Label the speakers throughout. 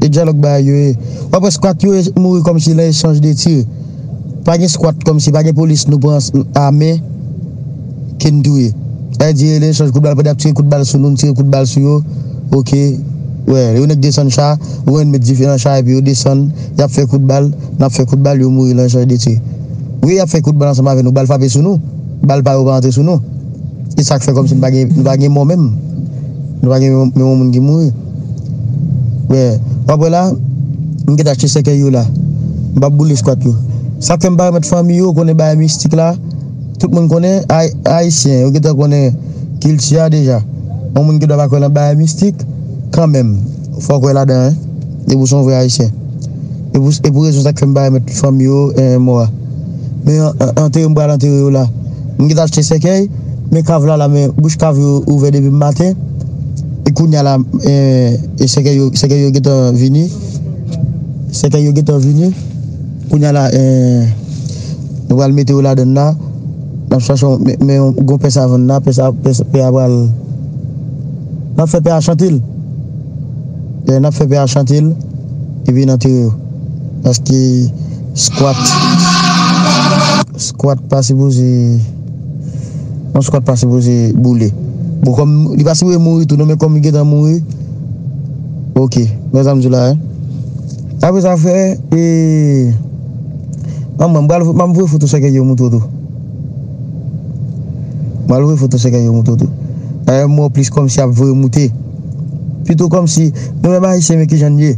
Speaker 1: E dyalòg bagay yo ye. Wap wè squat yo mouri kòmsi nan echanj de tir. Pa gen squat kòmsi pa gen polis nou pran a men ke n touye. Sa vle di nan echanj kout bal pandan yap tire kout bal sou nou n tire kout bal sou yo ok wè yon nèg desann cha yon nèg met dife nan cha epi yo desann yap fè kout bal nap fè kout bal yo mouri nan echanj de tir. Wi yap fè kout bal ansanm avè nou bal frape sou nou bal pa yo pa antre sou nou. E sak fè kòmsi nou pa gen mò menm? Nou pa gen yon moun ki mouri? Men, wap wè la, m gèt achte sèkèy yo la. M pap boule skwat yo. Sak fè m pa remèt fanmi yo konnen bagay mistik la? Tout moun konnen, Ayisyen, yo gentan konnen kilti a deja. Yon moun ki dwe pa kwè nan bagay mistik, kanmenm, fòk wè ladan. Depi w se yon vrè Ayisyen. E pou rezon sa k fè m pa remèt fanmi yo mò a. Men antere m pral antere yo la. M gentan achte sèkèy, men kav la la men bouch kav yo ouvè depi m maten. E kounya la sèkèy yo gentan vini. Sèkèy yo gentan vini. Kounya la nou pral mete yo ladann la. N ap chache yon men yon gwo pè savann la. Pè a pral. N ap fè pè a chante l. Lè nap fè pè a chante l li vin antere yo paske squat squat pa sipoze yon squat pa sipoze boule bon kòm li pa sipoze mouri tou non men kòm li gentan mouri ok men sa m di w la hein apre sa fè e anmwey m pral map voye foto sèkèy yo moutre w tou. Malore foto se kè yo moute w tou. Dayè m wè w plis kòmsi ap voye moute. Pito kòmsi nou menm Ayisyen men kijan n ye.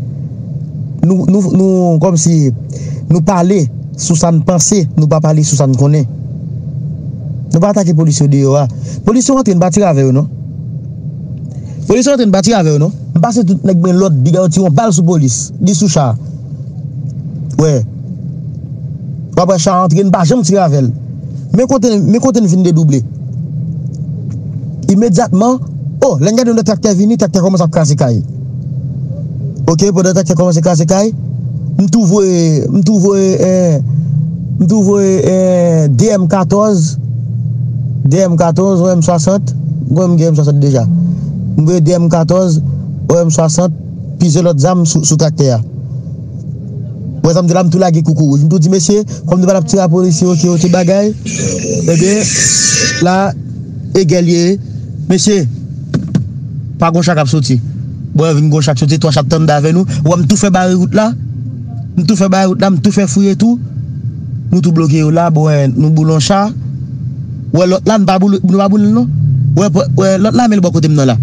Speaker 1: Nou nou nou kòmsi nou pale sou sa n panse nou pa pale sou sa n konnen. Nou pa atake polis yo deyò a. Polis yo antre n pa tire avè yo non. Polis yo antre n pa tire avè yo non. M pase tout nèk men lòd piga yo tire yon bal sou polis. Li sou cha. Wè. Wap wè chan antre n pa janm tire avèl Men kote men kote n fin dedouble Imedyatman oh lè n gade yon lòt traktè vini traktè kòmanse ap kraze kay ok pandan traktè kòmanse kraze kay m tou voye m tou voye eh m tou voye eh DM 14 DM 14 ou M 60 m kwè m gen M 60 deja m voye DM 14 ou M 60 plizyè lòt zam sou traktè a. Wè sa m di la m tou lage koukou wouj m tou di mesye kòm nou pa tap tire a polisye ok yo tout bagay ebyen la egè l ye mesye pa gon cha kap soti bon vin gon cha k soti 3 cha k tande avè nou ou wè m tou fè bare wout la m tou fè bare wout la m tou fè fouye tou nou tou bloke yo la bon nou boule yon cha ou wè lòt la nou pa boule nou pa boule l non ou wè lòt la men l bò kote m nan la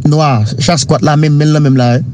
Speaker 1: nwa cha skwat la menm men l nan menm la.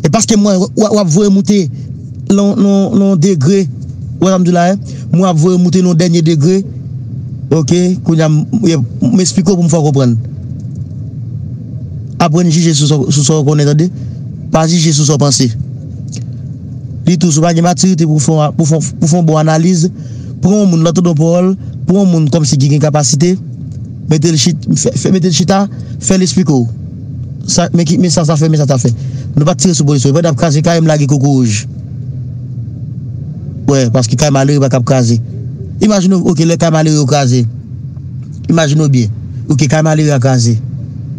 Speaker 1: E paske mwen w ap voye moute nan yon degre, ou wè sa m di w la? Mwen w ap voye moute nan yon dènye degre, ok, kounye a m esplike w pou m fè w konprann. Aprann jije sou sa w konnen tande, pa jije sou sa w panse. Ditou, si w pa gen matirite pou w fè yon bon analiz, pran yon moun lè w tande yon pawòl, pran yon moun kòmsi ki gen kapasite, mete l chita, fè l esplike w. Sa men ki men sa sa fè men sa ta fè nou pat tire sou polis yo epi nap kraze kay m lage kokorouj wè paske kay malere pa kab kraze imajine w ok lè kay malere yo kraze imajine w byen ok kay malere a kraze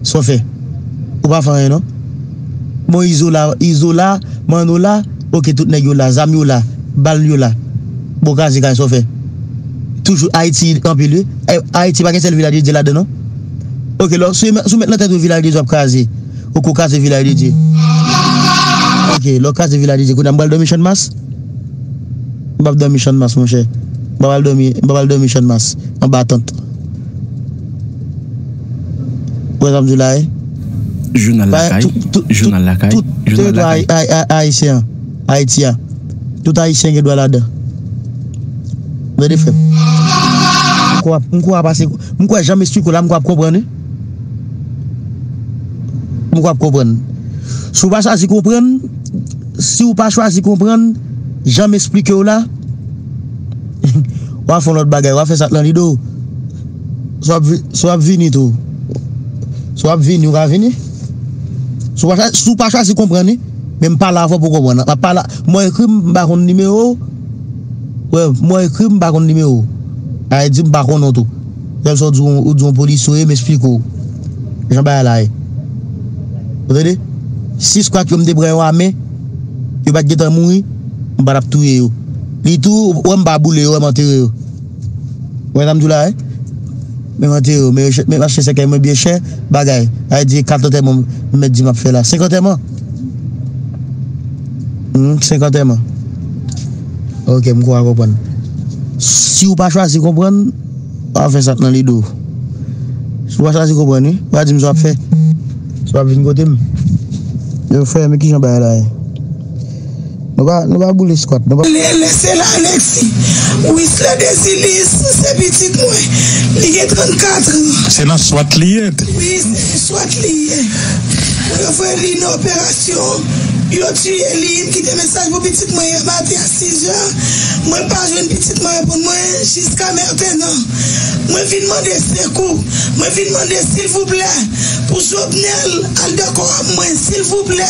Speaker 1: sa w fè ou pa fè anyen non bon izo la izo la manno la ok tout nèg yo la zam yo la bal yo la bon kraze kay sa w fè toujou ayiti anpil wi ayiti pa gen sèl viladye dye ladan non. Ok lò si ou met nan tèt ou vilaj de Dye wap kraze ou ko kraze vilaj de Dye ok lè ou kraze vilaj de Dye kounya m pral dòmi channmas m pap dòmi channmas monchè m pap al dòmi m pap al dòmi channmas anba tant ou wè sa m diw la wi
Speaker 2: Jounal
Speaker 1: lakay
Speaker 2: Jounal lakay tout teritwa
Speaker 1: ayisyen an. Ayiti a. Tout ayisyen gen dwa ladan. Mwen de frem. M ko ap ase. M ko ap janm esplike w la m ko ap konprann wi. M ko ap konprann. Si w pa chwazi konprann, si w pa chwazi konprann, janm esplike w la, wa fon lot bagay, wa fe sa k lan lide w. Si w ap vini tou. Si w ap vini, w ka vini. Si w pa chwazi konprann wi. Men m pale avèw pou w konprann nan. Map pale m wè ekri m pa konn nimewo w. Wè m wè ekri m pa konn nimewo w. Sa vle di m pa konnen w tou. Lè m sa w di ou di yon polisye w ye m esplike w jan bagay la ye. Ou tande? Si skwat yo m te pran yo a men, yo pat gentan mouri, m pa tap touye yo. Li tou ou wè m pa boule yo, ou wè m antere yo. Wè sa m di w la a? Men m antere w, men m achte sèkèy mwen byen chè, bagay. Ay di e kat antèman m mèt di m ap fè la. Senk antèman? Hum, senk antèman. Ok, m kwa w konprann. Si w pa chwazi konprann, w a fè sa k nan lide w. Si w pa chwazi konprann wi, w a di m sa w ap fè. Si w ap vin kote m. Yo frè, men ki jan bagay la ye. Nou pa boule skwat nou. Lè se la
Speaker 2: Alexis. Wisly Desilis se pitit mwen. Li gen 34 an. Se nan swat li
Speaker 3: ye? Wi se nan
Speaker 2: swat li ye. Pou yo voye li nan operasyon, yo tiye li. M kite mesaj pou pitit mwen yè maten a 6 zè. Mwen pa jwenn pitit mwen reponn mwen jiska mentenan. Mwen vin mande sekou. Mwen vin mande silvouplè pou Jovenel al dan kò a mwen silvouplè.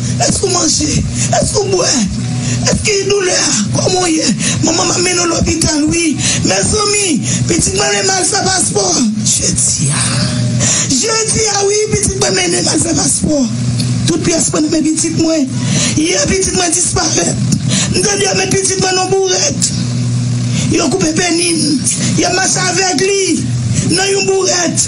Speaker 2: Èske ou manje? Èske ou bwè? Èske gen doulè? Kòman ou ye? Manman m ap mennen w lopital wi. Mezanmi! Pitit mwen ale mal fè paspò. Jedi a! Jedi a wi pitit mwen mennen m al fè paspò. Tout pyès mwen nan men pitit mwen. Yè pitit mwen disparèt. M tande yo met pitit mwen nan yon bourèt. Yo koupe peni l. Y ap mache avèg li nan yon bourèt.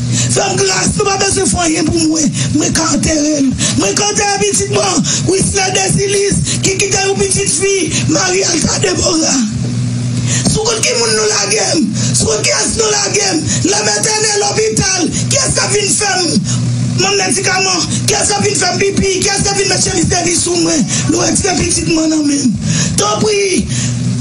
Speaker 2: Fèm gras nou pa bezwen fè anyen pou mwen mwen ka anterel mwen k antere pitit mwen an Wisner Desilis ki kite yon pitit fi Marie Alta Deborah sou kont ki moun nou lagem sou kont kiyès nou lagem lèm etène lopital kiyès kap vin fèm Mwen medikaman kiyès kap vin fèm pipi kiyès kap vin met chemiz de vi sou mwen nou ex gen pitit mwen nan menm tanpri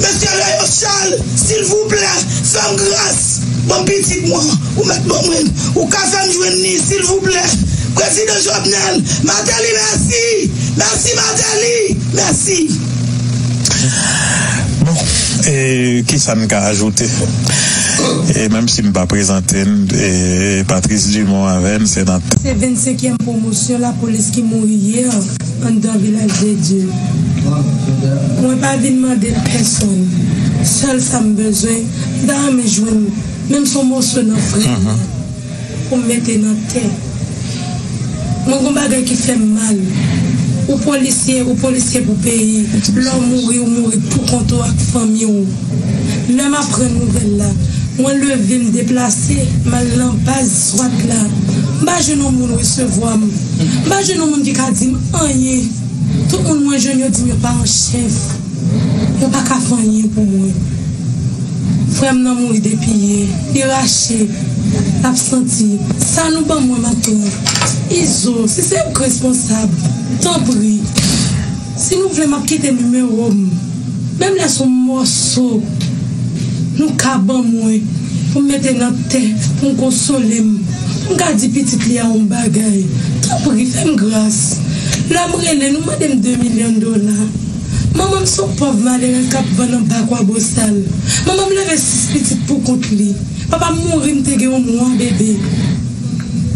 Speaker 2: Mesye Leyosal silvouplè fèm gras. Bon pitit mwen ou mèt ban mwen ou ka fèm jwenn ni silvouplè prezidan jovenel mateli mèsi mèsi mateli mèsi.
Speaker 3: Bon e kisa n ka ajoute e menm si m pa prezante n e Patrice Dumont avè n se nan. Se 25 kièm
Speaker 4: pwomosyon lapolis ki mouri yè anndan vilaj de Dye. Mwen pa vin mande l pèsòn, sèl sa m bezwen M ta renmen jwenn menm son moso nan frè m nan pou m mete nan tè mwen gon bagay ki fè m mal ou polisye ou polisye pou peyi lè w mouri ou mouri pou kont ou ak fanmi w lè m aprann nouvèl la mwen leve m deplase m al nan baz swat la m pa jwenn yon moun resevwa m m pa jwenn yon moun ki ka di m anyen tout moun mwen jwenn yo di m yo pa an chèf. Yo pa ka fè anyen pou mwen. Frè m nan mouri depiye li rache l ap santi sa nou ban mwen maten an izo si se ou k responsab tanpri si nou vle m ap kite nimewo m menm lè s on mòso nou ka ban mwen pou m mete nan tè pou m konsole m pou m ka di pitit li a on bagay tanpri fè m gras lè m rele nou mande m 2 milyon dola. Manman m son pòv malere k ap vann anba Kwabosal. Manman m leve sis pitit pou kont li. Papa m mouri m te gen yon mwa bebe.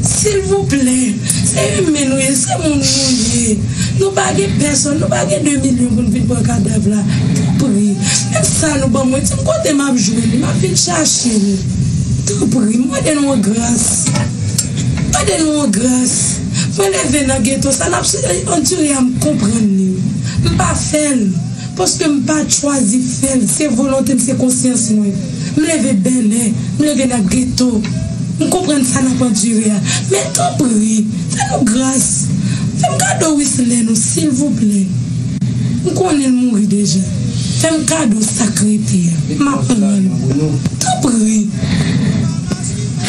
Speaker 4: Silvouplè, se imen nou ye, se moun nou ye. Nou pa gen pèsonn, nou pa gen 2 milyon pou n vin pran kadav la. Tanpri, menm sa nou ban mwen, di m kote m ap jwenn li, m ap vin chache l. Tanpri, m mande nou an gras. Mande nou an gras. Mwen leve nan geto sa nap andire a m konprann li m pa fèl paske m pat chwazi fèl se volonte m se konsyans mwen m leve bèlè m leve nan geto m konprann sa nap andire a men tanpri fè nou gras fè m kado Wislè nou silvouplè m konnen l mouri deja fè m kado sak rete a map pran l tanpri.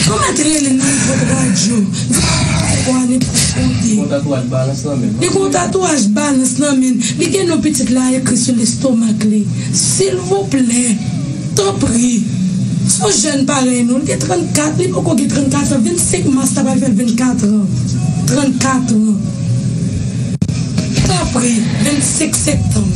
Speaker 4: Fò mwen te rele nan epòk radyo, di a pa fè kò a nen plis konte. Li kon tatouaj balans nan menn. Li kon tatouaj balans nan menn. Li gen non pitit la ekri sou lestomak li. Silvouplè, tanpri, son jèn parèy nou, li gen 34, li poko gen 34 an, 25 mas la pral fèl 24 an, 34 an. Tanpri, 25 sektanm.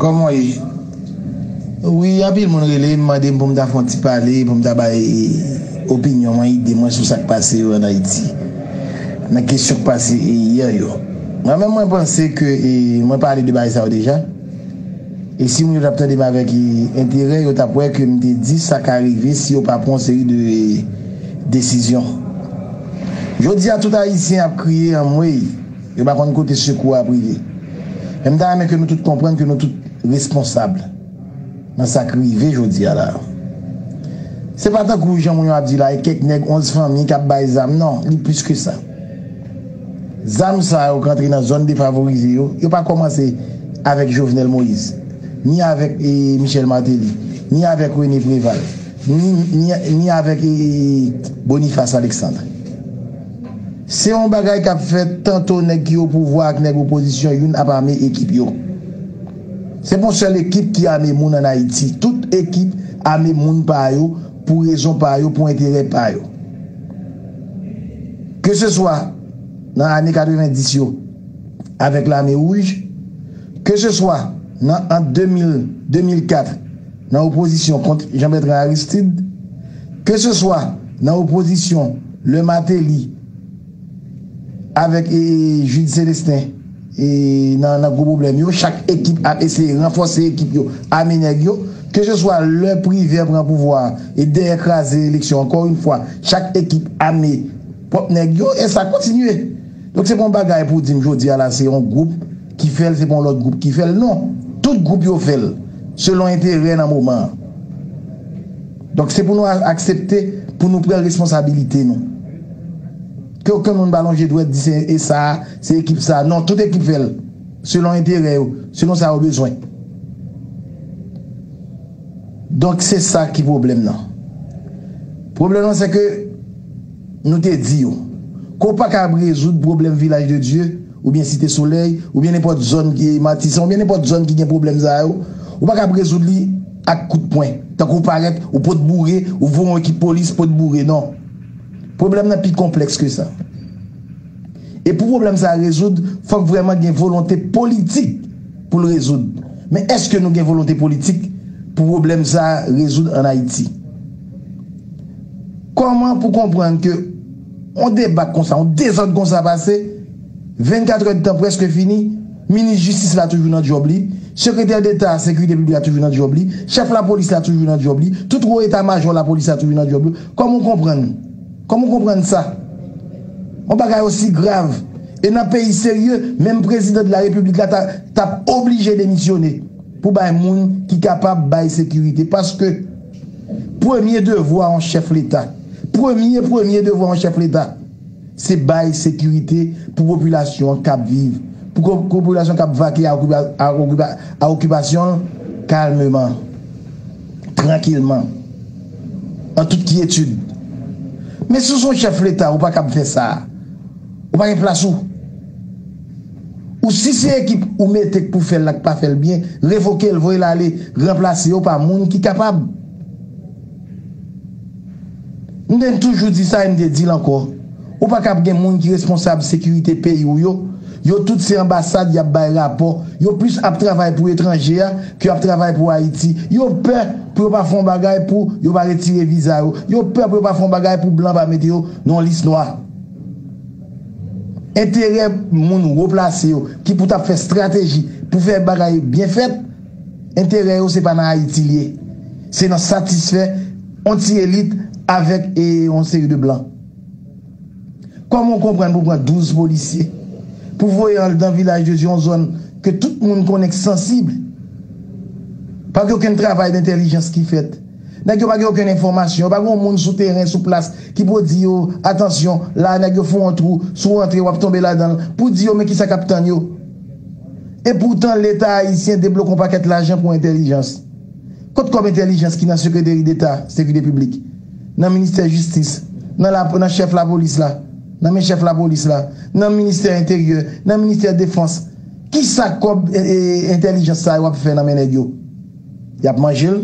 Speaker 5: Kòman w ye? Wi, anpil moun rele m, mande m pou m ta fè yon ti pale, pou m ta bay opinyon mwen, ide mwen sou sa k pase yo ann Ayiti, nan kesyon k pase yè yo. Mwen menm mwen panse ke mwen pale de bagay sa yo deja, e si moun yo t ap tande m avèk enterè, yo t ap wè ke m te di sa ka rive si yo pa pran yon seri de desizyon. Jodi a tout Ayisyen ap kriye anmwey! Yo pa konn kote sekou a ap rive. Men m ta renmen ke nou tout konprann ke nou tout responsab nan sa k rive jodi a la. Se pa tankou jan moun yo ap di la e kèk nèg 11 fanmi k ap bay zam non, li plis ke sa. Zam sa yo k rantre nan zòn defavorize yo, yo pa kòmanse avèk Jovenel Moïse, ni avèk Michel Martelly, ni avèk René Préval, ni avèk Boniface Alexandre. Se yon bagay kap fèt tanto nèg ki opouvwa ak nèg opozisyon youn ap ame ekip yo. Se pa yon sèl ekip ki ame moun an Ayiti. Tout ekip ame moun pa yo pou rezon pa yo, pou enterè pa yo. Ke se swa nan ane 90 yo avèk lame wouj, ke se swa nan ant 2000, 2004, nan opozisyon kont Jean Bertrand Aristide, ke se swa nan opozisyon lè Martelly avèk Jude Celestin nan gwo pwoblèm yo, chak ekip ap eseye ranfòse ekip yo, ame nèg yo, ke se swa lè Privert pran pouvwa a e dèyè kraze eleksyon ankò yon fwa chak ekip ame pwòp nèg yo e sa kontinye. Donk se pa yon bagay pou w di m jodi a la se yon gwoup ki fè l, se pa yon lòt gwoup ki fè l. Non! Tout gwoup yo fè l selon enterè nan moman an. Donk se pou nou aksepte pou nou pran responsabilite nou. Ke okenn moun pa lonje dwèt di se e sa a, se ekip sa a. Non! Tout ekip fè l selon enterè yo, selon sa yo bezwen. Donk se sa ki pwoblèm nan. Pwoblèm nan se ke. Nou te di yo, Ke w pa kab rezoud pwoblèm Vilaj de Dye, oubyen Site Solèy, oubyen nenpòt zòn ki, Matisan, oubyen nenpòt zòn ki gen pwoblèm sa yo, ou pa kab rezoud li ak kout pwen, tankou w parèt, ou pot boure, ou voye yon ekip polis pot boure. Non. Pwoblèm nan pi konplèks ke sa. E pou pwoblèm sa a rezoud, fòk vrèman gen volonte politik pou l rezoud. Men èske nou gen volonte politik pou pwoblèm sa a rezoud an Ayiti? Kòman pou konprann ke yon debakl konsa, yon dezòd konsa pase, 24 è dtan prèske fini, Minis Jistis la toujou nan djòb li, Sekretè Deta a Sekirite Piblik la toujou nan djòb li, Chèf Lapolis la toujou nan djòb li, tout Wo Eta Majò Lapolis la toujou nan djòb yo, kòman ou konprann, kòman ou konprann sa? Yon bagay osi grav, e nan peyi serye, menm Prezidan de la Repiblik la ta tap oblije demisyone pou bay moun ki kapab bay sekirite, paske. Premye devwa yon chèf leta, premye premye devwa yon chèf leta, se bay sekirite pou popilasyon an kab viv, pou popilasyon kab vake a okipasyon l kalmeman, trankilman, an tout kyetid. Men si w se yon chèf leta, ou pa kab fè sa. Ou pa gen plas ou. Ou si se ekip ou mete k pou fèl la k pa fèl byen, revokel voyel ale ranplase yo pa moun ki kapab. M te toujou di sa e m te dil ankò, ou paka ap gen moun ki responsab sekirite peyi w yo, yo tout se anbasad yap bay rapò, yo plis ap travay pou etranje a ke yap travay pou Ayiti, yo pè pou yo pa fè yon bagay pou yo pa retire viza yo, yo pè pou yo pa fè yon bagay pou blan pa mete yo nan yon lis nwa. Enterè moun wo plase yo ki pou t ap fè strateji pou fè bagay byen fèt, enterè yo se pa nan Ayiti li ye. Se nan satisfè yon ti elit avèk yon seri de blan. Kòman w konprann pou pran 12 polisye, pou voye an dan vilaj de Dye yon zòn ke tout moun konnen k sansib, pa gen okenn travay dentèlijans ki fèt. Nèg yo pa gen okenn enfòmasyon, yo pa gen yon moun sou teren, sou plas, ki pou di yo, atansyon, la a nèg yo fon yon twou, si w antre w ap tonbe ladan l, pou di yo men kisa k ap tann yo. Epoutan Leta ayisyen debloke yon pakèt lajan pou entèlijans. Kot kòb entèlijans ki nan sekreteri deta sekirite piblik, nan ministè jistis, nan la, nan chèf lapolis la, nan men chèf lapolis la, nan ministè enteryè, nan ministè defans, kisa kòb entèlijans sa yo ap fè nan men nèg yo? Y ap manje l,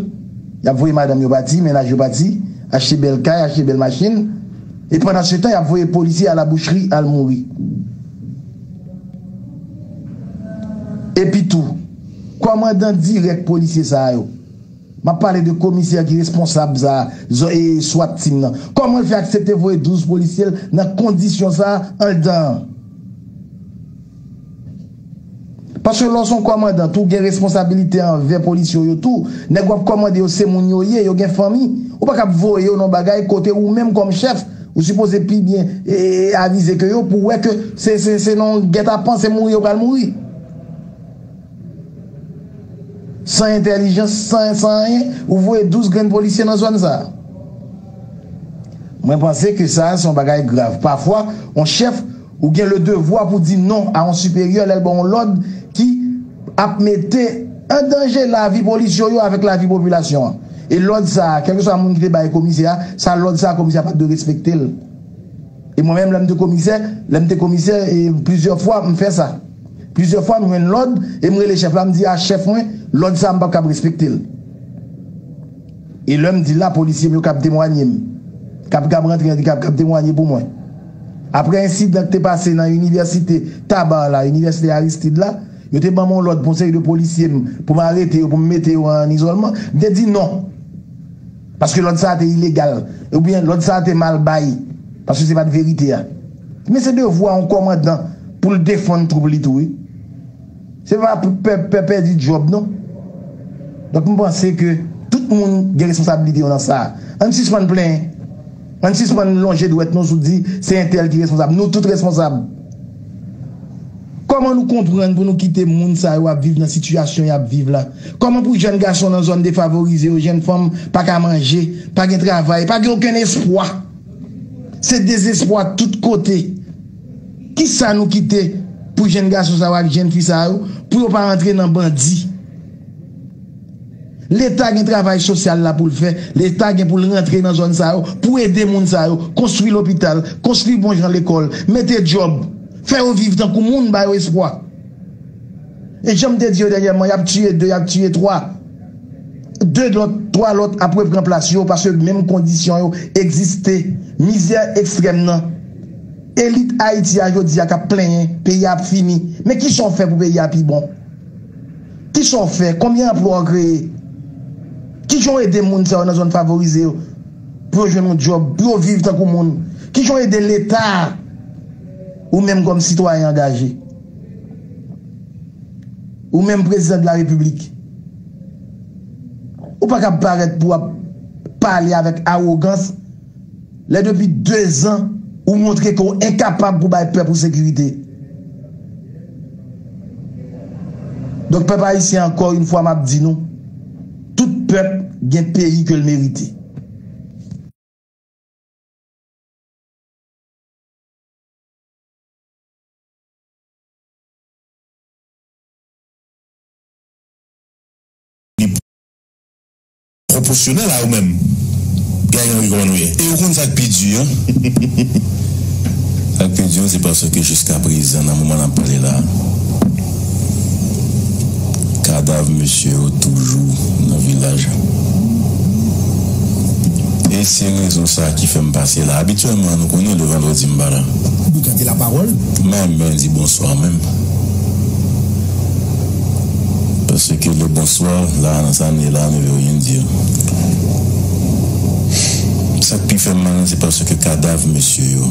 Speaker 5: y ap voye madanm yo pati, mennaj yo pati, achte bèl kay, achte bèl machin, e pandansetan y ap voye polisye a labouchri al mouri. Epitou, kòmandan dirèk polisye sa a yo, m ap pale de komisè ki responsab sa a, zò e swat team nan, kòman l fè aksepte voye 12 polisye l nan kondisyon sa a anndan an? Paske lè w son kòmandan tou gen responsabilite anvè polis yo yo tou, nèg wap kòmande yo se moun yo ye, yo gen fanmi, ou pa kab voye yo nan bagay kote ou menm kòm chèf ou sipoze pi byen avize ke yo pou wè ke se nan yon gètapan se mouri yo pral mouri san entèlijans san anyen ou voye 12 grenn polisye nan zòn sa mwen panse ke sa se yon bagay grav pafwa yon chèf Ou gen le devwa pou di non a yon siperyè lè l ba w yon lòd ki ap mete an danje lavi polis yo yo avèk lavi popilasyon an. E lòd sa a, kèlkeswa moun ki te bay komisè a, sa lòd sa a komisè a pa t dwe respekte l. E mwen menm lè m te komisè, lè m te komisè e plizyè fwa m fè sa. Plizyè fwa m jwenn lòd e m rele chèf la m di a chèf mwen lòd sa a m p ap kab respekte l. E lè m di la polisye m yo kab temwanye m. Kab kab rantre an di kab kab temwanye pou mwen. Aprè ensidan k te pase nan inivèsite Tabar la, inivèsite Aristide la, yo te ban m yon lòd pou yon seri de polisye m pou m arete yo, pou m mete yo an izòlman. M te di non. Paske lòd sa a te ilegal. Oubyen lòd sa a te mal bay. Paske se pa t verite a. Men se devwa yon kòmandan pou l defann twoup li tou wi. Se pa pou pèp pè pèdi djòb non. Donk m panse ke tout moun gen responsabilite yo nan sa. Ann sispann plenyen. Ann sispann lonje dwèt nou sou di se entèl ki responsab. Nou tout responsab. Kòman nou konprann pou nou kite moun sa yo ap viv nan sitiyasyon y ap viv la? Kòman pou jèn gason nan zòn defavorize yo, jèn fanm pa ka manje, pa gen travay, pa gen okenn espwa? Se dezespwa tout kote. Kisa nou kite pou jenn gason sa yo ak jenn fi sa yo pou yo pa rantre nan bandi? Leta gen travay sosyal la pou l fè, leta gen pou l rantre nan zòn sa yo pou ede moun sa yo, konstwi lopital, konstwi bon jan lekòl, mete djòb, fè yo viv tankou moun, ba yo espwa. E jan m te di yo dènyèman, y ap tiye 2, y ap tiye 3. 2 lòt, 3 lòt ap repran plas yo paske menm kondisyon yo egziste. Mizè ekstrèm nan. Elit Ayiti a jodi a k ap plenyen peyi a ap fini. Men ki sa w fè pou peyi a pi bon? Ki sa w fè? Konbyen anplwa w kreye? Ki jan w ede moun sa yo nan zòn favorize yo pou yo jwenn yon djòb, pou yo viv tankou moun? Ki jan w ede Leta a, ou menm kòm sitwayen angaje? Ou menm prezidan de la repiblik, ou pa kab parèt pou ap pale avèk awogans lè depi 2 zan ou montre ke w enkapab pou bay pèp ou sekirite. Donk pèp ayisyen ankò yon fwa m ap di nou, tout pèp gen peyi ke l merite.
Speaker 6: Pwoposyonèl a ou menm gayan wi kòman nou ye e ou konn sak pi di an sak pi di an se paske jiska prezan nan moman nap pale la kadav mesye yo toujou nan vilaj e se rezon sa ki fèm pase la abityèlman nou konnen le vandredi m pa la. Pou gade la
Speaker 7: parole. Mwen mwen di
Speaker 6: bonsoir menm paske le bonsoir la nan sa ne la ne veut rien dire sak pi fèm mal lan se paske kadav mesye yo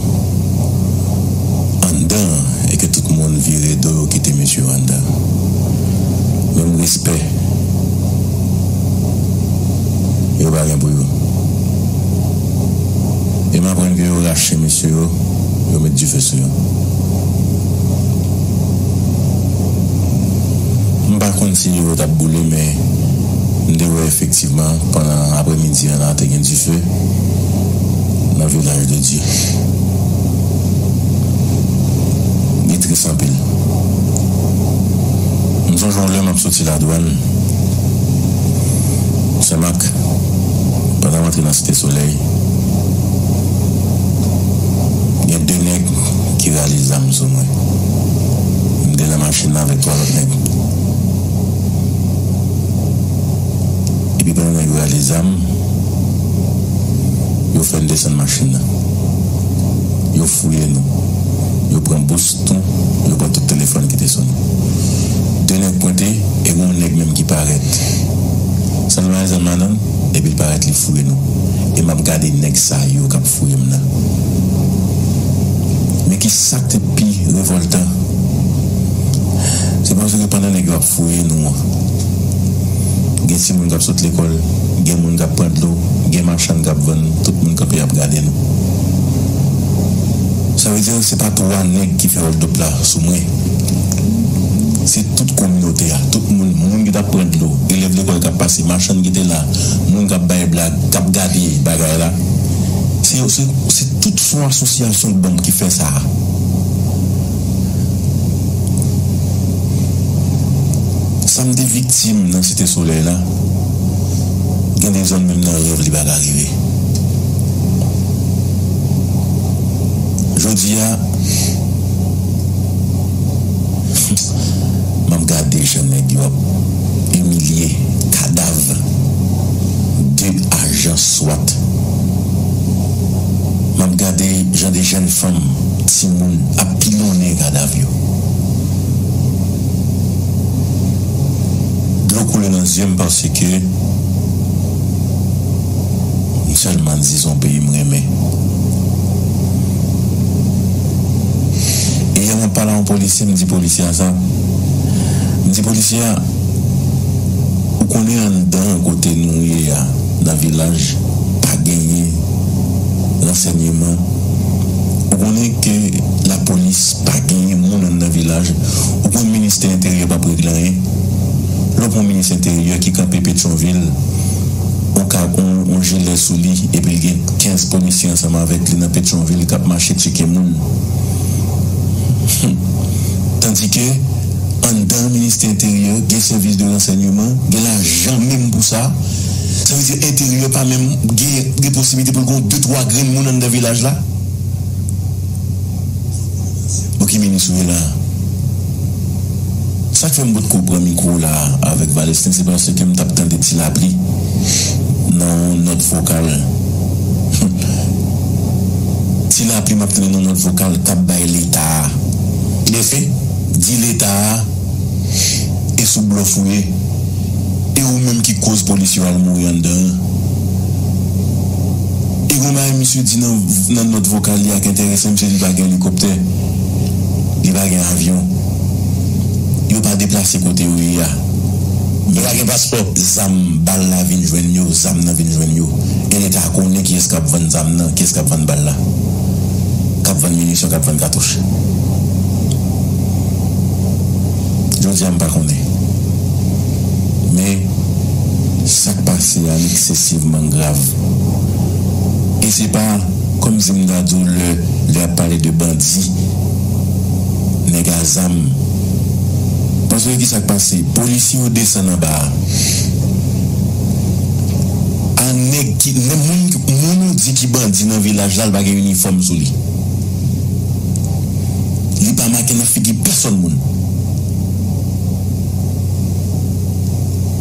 Speaker 6: anndan an e ke tout moun vire do yo kite mesye yo anndan menm respè yo pa gen pou yo e m aprann ke yo Chen mesye yo, yo met dife sou yo. M pa konn si yo t ap boule men m te wè efektivman pandan apremidi an la te gen dife nan Village de Dieu. Li tris anpil. M sonje yon lè m ap soti Ladwann, Senmak, pandan m antre nan Site Solèy. Gen 2 nèg ki raje zam sou mwen. M te nan machin lan avèk 3 lòt nèg. Epi pandan nèg yo raje zam, yo fè n desann machin lan. Yo fouye nou. Yo pran bous Tonton, yo pran tout telefòn ki te sone. De nèg pwente e gon nèg menm ki parèt. San lwayen zam la nan, epi l parèt li fouye nou. E m ap gade nèg sa yo k ap fouye m nan. Men ki sa k te pi revòltan, se paske pandan nèg yo ap fouye nou an, gen timoun k ap sot lekòl, gen moun k ap pran dlo, gen machann k ap vann, tout moun kanpe ap gade nou. Sa vle di, Se pa 3 nèg ki fè oldop la sou mwen. Se tout kominote a, tout moun, moun ki t ap pran dlo, elèv lekòl k ap pase, machann ki te la, moun k ap bay blag, k ap gade bagay la. Se yo, se se tout son asosyasyon banm ki fè sa a. Sa m te viktim nan Site Solèy la, gen de zòn menm nan rèv li pa ka rive. Jodi a map gade jan nèg yo ap imilye kadav 2 ajan swat map gade jan 2 jèn fanm timoun ap pilonnen kadav yo dlo koule nan zyem paske M selman di son peyi m renmen. Yè mwen t pale a yon polisye m di polisye a sa, m di polisye a ou konnen anndan kote nou ye a nan vilaj pa genyen ransènyeman, ou konnen ke lapolis pa genyen moun anndan vilaj, ou konnen ministè enteryè p ap regle anyen. Lè w pran minis enteryè ki kanpe Petyonvil. yon kab, yon jile sou li epi l gen 15 polisye ansanm avèk li nan Petyonvil k ap mache tcheke moun. Hum! Tandike, anndan Ministè Enteryè, gen sèvis de ransègneman, gen lajan menm pou sa. Sa vle di Enteryè pa menm gen posiblite pou l gen yon de twa grenn moun anndan vilaj la. Bon ki minis ou ye la? Sak fè m potko pran mikwo la avèk Valesten se paske m tap tande ti lapli nan yon nòt vokal Humm ti lapli map tande nan nòt vokal kap bay leta a Mèsi di leta a e sou blòf ou ye e ou menm ki koz polisye yo al mouri anndan an. E gon bagay misye di nan nan nòt vokal li a k entèresan m se li pa gen elikoptè, li pa gen avyon, yo pa deplase kote yo ye a, yo pa gen paspò. Zam, bal la vin jwenn yo, zam nan vin jwenn yo. E leta konnen kiyès k ap vann zam nan, kiyès k ap vann bal la, k ap vann minisyon, k ap vann katouch. Jodi a m pa konnen. Men, sa k pase a l eksesivman grav. e se pa kòm si m ta di w lè lè y ap pale de bandi, nèg a zam. Paske ki sa k pase? Polisye yo desann anba a. A nèg ki nè moun ki moun ou di ki bandi nan vilaj la l pa gen inifòm sou li. Li pa make nan figi pèsòn moun.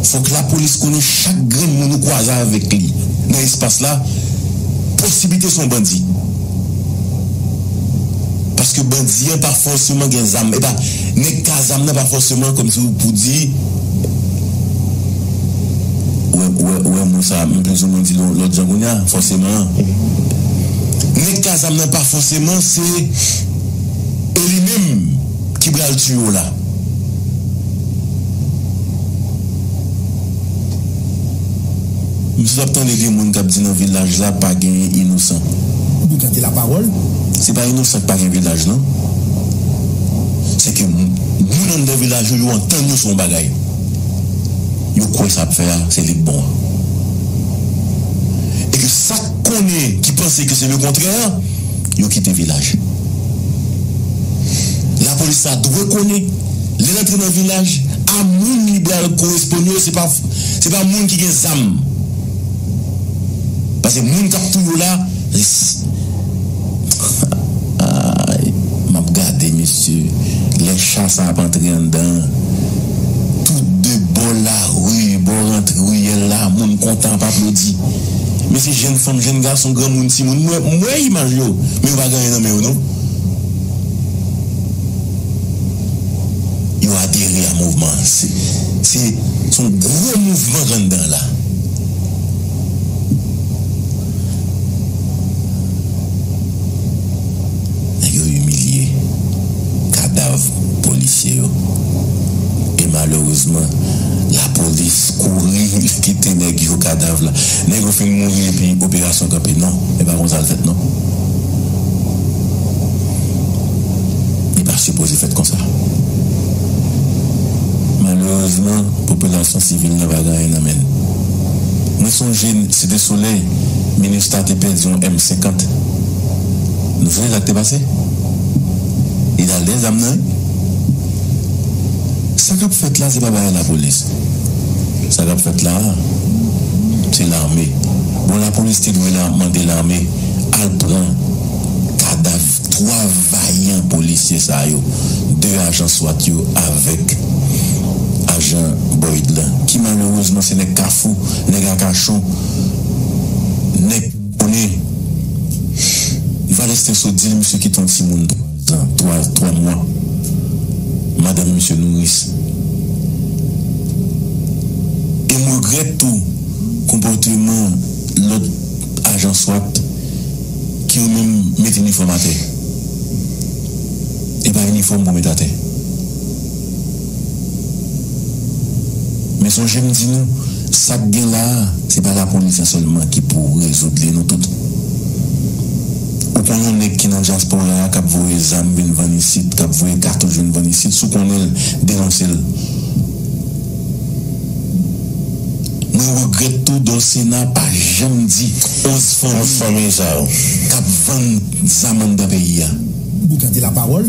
Speaker 6: Fòk lapolis konnen chak grenn moun ou kwaze avèk li nan espas la, posiblite se yon bandi. Paske bandi an pa fòseman gen zam, epa nèg ki a zam nan pa fòseman kòmsi pou di, ou wè mo sa m plizoumwen di l yon lòt jan kounye a, fòseman an. Nèg ki a zam nan pa fòseman se e li menm ki pral tiye w la. M sot ap tande vye moun kap di nan vilaj la pa genyen inosan. Li gade la
Speaker 7: pawol. Se pa inosan
Speaker 6: ki pa gen vilaj nan. Se ke moun anndan vilaj yo, yo antann yo sou yon bagay. Yo kwe sa yap fè a se li k bon an. E ke sak konnen ki panse ke se le kontrè an. Yo kite vilaj la polis la dwe konnen lèl antre nan vilaj a moun li bal koresponn yo se pa se pa moun ki gen zam pase moun kap touye w la aayy map gade mesye lè cha sa ap antre andan an tout de bò la. Wi bon rantre riyèl la moun kontan ap aplodi men se jèn fanm jèn gason granmoun timoun mwen m wè imaj yo men yo pa gen anyen nan men yo non yo adere a mouvman an se se yon gwo mouvman k anndan la nèg yo imilye kadav polisye yo e malerezman lapolis kouri li kite nèg yo kadav la nèg yo fin mouri epi operasyon kanpe non e pa konsa l fèt non li pa sipoze fèt konsa malerezman popilasyon sivil la pa gen anyen nan men l mwen sonje site solèy minustah te pèdi yon m 50 nou sonje sa k te pase. Li tal gen zam nan wi. Sa kap fèt la se pa bagay lapolis sa kap fèt la se lame bon lapolis te dwe la mande lame al pran kadav 3 vayan polisye sa yo 2 ajan swat yo avèk ajan boyd lan ki malerezman se nèg kafou nèg akachon nèg Bonè Valès te sot di l misye kite yon timoun twa twa twa mwa. Madanm misye nouris. E m regrèt tou konpòteman lòt ajan swat ki yo menm met inifòm atè. E pa inifòm pou met atè. Men sonje m di nou, sa k gen la a, se pa lapolis la sèlman ki pou rezoud li nou tout. Ou kon yon nèg ki nan dyaspora a k ap voye zam vin vann isit, k ap voye katouch vin vann isit, si w konnen l, denonse l. Mwen regrèt tou Dolcena pa janm di 11 fanmi sa yo k ap vann zam anndan peyi a. Ou gade la
Speaker 7: pawol.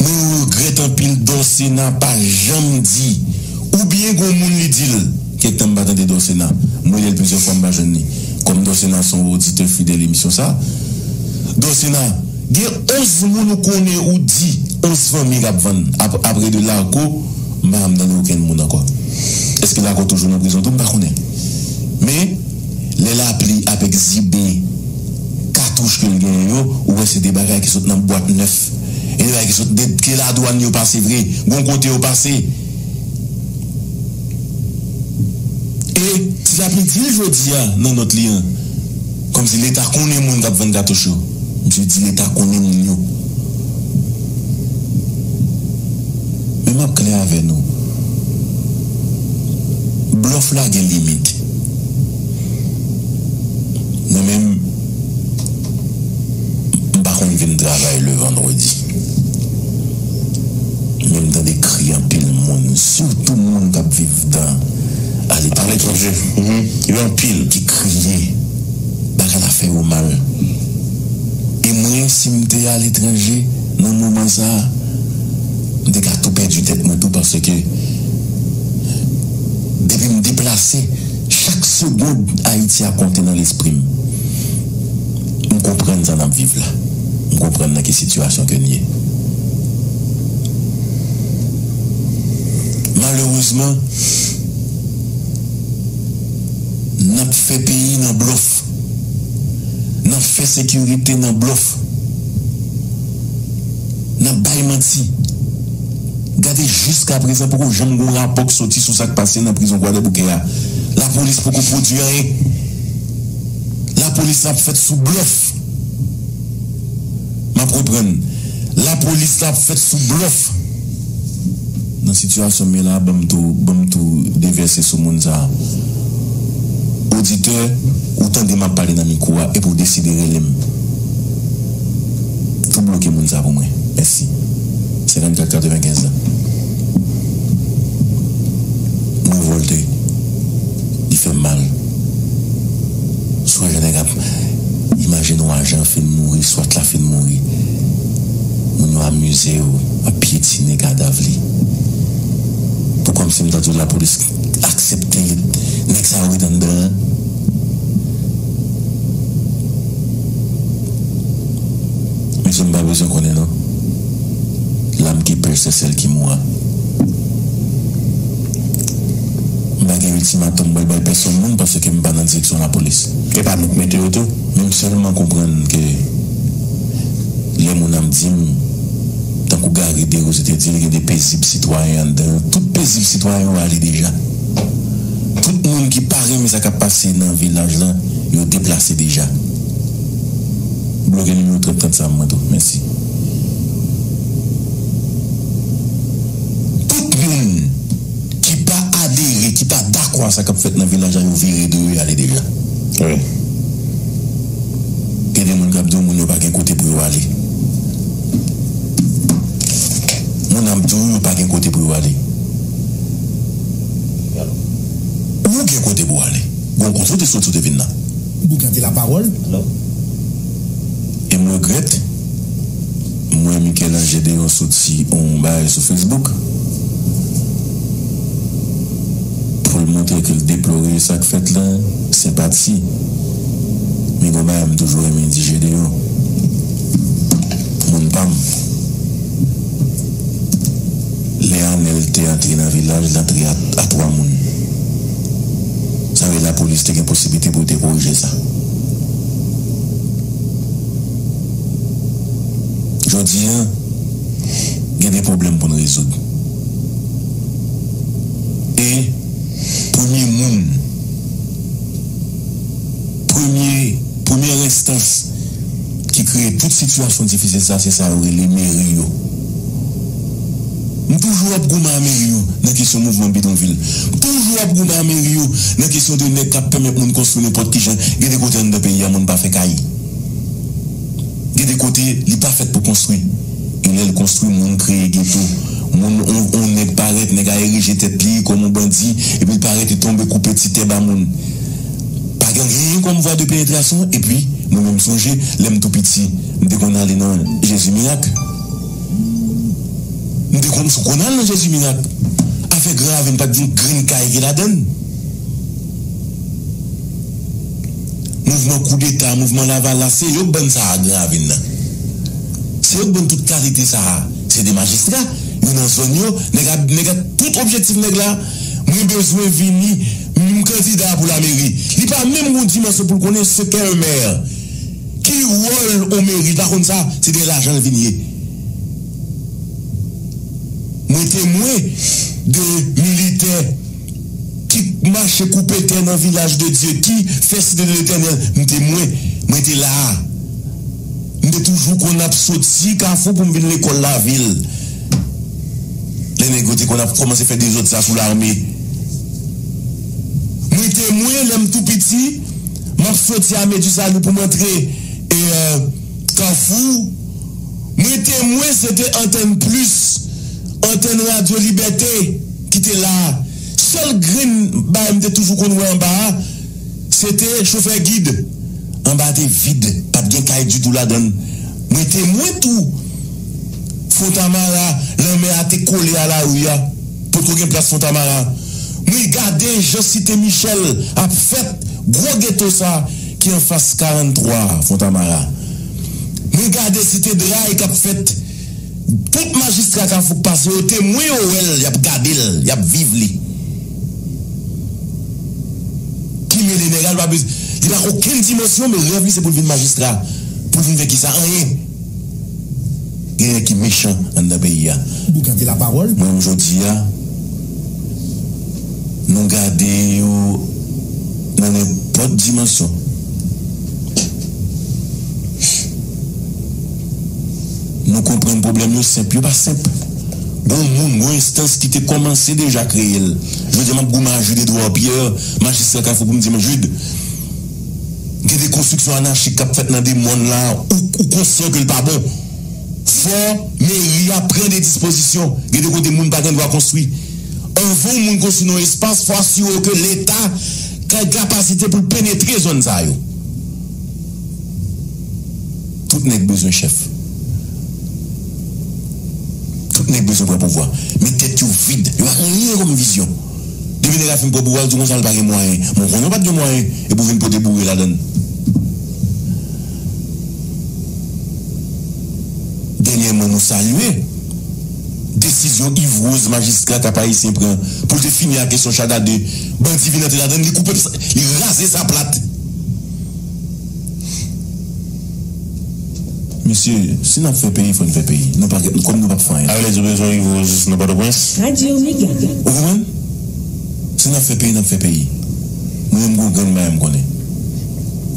Speaker 6: Mwen regrèt anpil Dorcena pa janm di ou byen gon moun li dil kèk tan m pa tande Dorcena m relel plizyè fwa m pa jwenn li kòm Dorcena son oditè fidèl emisyon sa Dorcena gen 11 moun ou konnen ou di 11 fanmi kap vann apre de Larco m pa janm tande okenn moun ankò eske Larco toujou nan prizon tou m pa konnen men Lè lapli ap egzibe katouch ke l genyen yo, ou wè se de bagay ki sot nan bwat nèf. E de bagay ki sot de ke ladwann yo pase vre, gon kote yo pase. E Ti Lapli di l jodi a nan nòt li an, kòmsi Leta konnen moun k ap vann katouch yo. Misye di Leta konnen moun yo. Men m ap klè avè nou, blòf la gen limit. Mwen menm m pa konn vin travay le vendredi men m tande kri anpil moun sitou moun kap viv dan aletranje yo anpil ki kriye bagay la fè yo mal e mwen sim te aletranje nan moman sa m te ka tou pèdi tèt mwen tou paske Depi m deplase, chak segond Ayiti a konte nan lespri m. M konprann sa n ap viv la. M konprann nan ki sitiyasyon ke n ye. Malerezman, n ap fè peyi nan blòf. nan fè sekirite nan blòf, nan bay manti. Gade jiska prezan poko janm gon rapò k soti sou sak pase nan prizon kwadèboukè a. Lapolis poko pwodwi anyen. Lapolis la ap fèt sou blòf. Map reprann la polis la ap fèt sou blòf nan sitiyasyon m ye la banm tou banm tou devèse sou moun sa oditè ou tande map pale nan mikwo a epi w deside rele m tou bloke moun sa pou mwen mèsi 54 95 la m revòlte li fèm mal. Sonje nèg ap imaje nou ajan fin mouri swat la fin mouri moun yo amize yo ap pyetine kadav li tou kòmsi m ta di w lapolis aksepte nèg sa yo ret anndan an mesye m pa bezwen konnen non lam ki pè sèsèl ki moua. M pa gen ultimatum m pral bay pèsonn moun paske m pa nan direksyon lapolis. E pa nou k mete yo tou? Men m sèlman konprann ke lè moun ap di m, tankou Garry Desrosiers te di l gen de pezib sitwayen anndan yo, tout pezib sitwayen yo ale deja. Tout moun ki pa renmen sa k ap pase nan vilaj lan yo deplase deja. Bloke nimewo 3030 sa a mwen tou. Mèsi. Tout moun ki pa adere, ki pa dakò a sa k ap fèt nan vil la jan yo vire do yo ale deja. Wi. Gen de moun k ap di w moun yo pa gen kote pou yo ale. Moun ap di w yo pa gen kote pou yo ale. Ou gen kote pou w ale. Gon kote w te soti w te vin la. Boukan te lapawòl. E m regrèt. Mwen Mikel Ange deyò soti on bagay sou Facebook poul montre ke l deplore sak fèt lan senpati men gon bagay m toujou renmen di Jedeyò moun pam lè Anèl te antre nan vilaj l t antre a 3 moun sa vle di lapolis te gen posiblite pou yo te korije sa. Jodi a, gen de pwoblèm pou n rezoud. E premye moun, premye, premyè enstans ki kreye tout sitiyasyon difisil sa, se sa yo rele meri yo. M toujou ap goumen a meri yo nan kesyon mouvman bidonvil. M toujou ap goumen a meri yo nan kesyon de nèg k ap pèmèt moun konstwi nenpòt ki jan. Gen de kote anndan peyi a moun pa fè kay. Gen de kote li pa fèt pou konstwi e lèl konstwi moun kreye geto moun on nèg parèt nèg a erije tèt li kòm on bandi epil parèt li tonbe koupe ti tè ba moun pa gen anyen kòm vwa de penetrasyon epi mwen menm sonje lèm tou piti mte konn ale nan jezi mirak mte konn sou konn al nan jezi mirak afè gran ravin pat gen grenn kay ki ladann. Mouvman koudeta, mouvman lavalas se yo k ban sa a Gran Ravin nan. Se yo k ban tout kalite sa a. Se 2 majistra, yo nan zòn yo, nèg ap, nèg ap, tout objektif nèg la, mwen bezwen vini, m kandida pou lameri. Li pa menm gon dimansyon pou l konnen se kè yon mè. Ki wòl yon meri, li pa konn sa, se dèyè lajan l vin ye. Mwen temwen de militè Ki t mache koupe tè nan vilaj de Dye, ki fè site de Letènèl, m te mwen, mwen te la a. M te toujou konn ap soti Kafou pou m vin lekòl lavil, lè nèg yo te konn ap kòmanse fè dezòd sa sou lame. Mwen te mwen, lè m tou piti, m ap soti Ame di Sali pou m antre Kafou, mwen te mwen se te antèn plis, antèn radyo Libète. ki te la a, sèl grenn bagay m te toujou konn wè anba a, se te chofè gid. Anba a te vid, pa t gen kay ditou ladan l. Mwen temwen tou, Fontamara, lanmè a te kole a lari a, potko gen plas Fontamara. Mwen gade jan Site Michèl ap fèt, gwo geto sa a ki anfas 43 a, Fontamara. Mwen gade Site Dray k ap fèt. Tout majistra kafou k pase yo temwen yo wè l y ap gade l y ap viv li ki mele nèg a li pa bezwen li pa gen okenn dimansyon men rèv li se pou l vin majistra pou l vin fè kisa anyen gen nèg ki mechan anndan peyi a mwen
Speaker 7: menm jodi a
Speaker 6: nou gade yo nan nenpòt dimansyon. Nou konprann pwoblèm yo senp, yo pa senp. Gon moun, gon enstans ki te kòmanse deja kreye l. Jodi a m ap goumen a Jude Edouard Pierre, majistra Kafou pou m di men Jude, gen de konstriksyon anachik k ap fèt nan de mòn la, ou konsyan ke l pa bon. Fò meri a pran de dispozisyon. Gen de kote moun pa gen dwa konstwi. Anvan yon moun konstwi nan yon espas, fò asire w ke leta gen kapasite pou l penetre zòn sa yo. Tout nèg bezwen chèf. Tout nèg bezwen pran pouvwa. Men tèt yo vid. Yo pa gen anyen kòm vizyon. Depi nèg la fin pran pouvwa l di konsa l pa gen mwayen. Men w konnen w pa t gen mwayen epi w vin pote boure ladan l. Dènyèman nou salye desizyon Yves Rose majistra Kap Ayisyen pran pou l te fini ak kesyon Chada 2. Bandi vin antre ladan l li koupe li raze sa plat. Mesye, si nap fè peyi, fò n fè peyi. Nou pa gen, kòm nou pap fè anyen. Arlette ou bezwen rive o jis nan Pòtoprens? Radio Mega.
Speaker 8: Ou konprann?
Speaker 6: Si nap fè peyi, nap fè peyi. Mwen menm gon grenn bagay m konnen.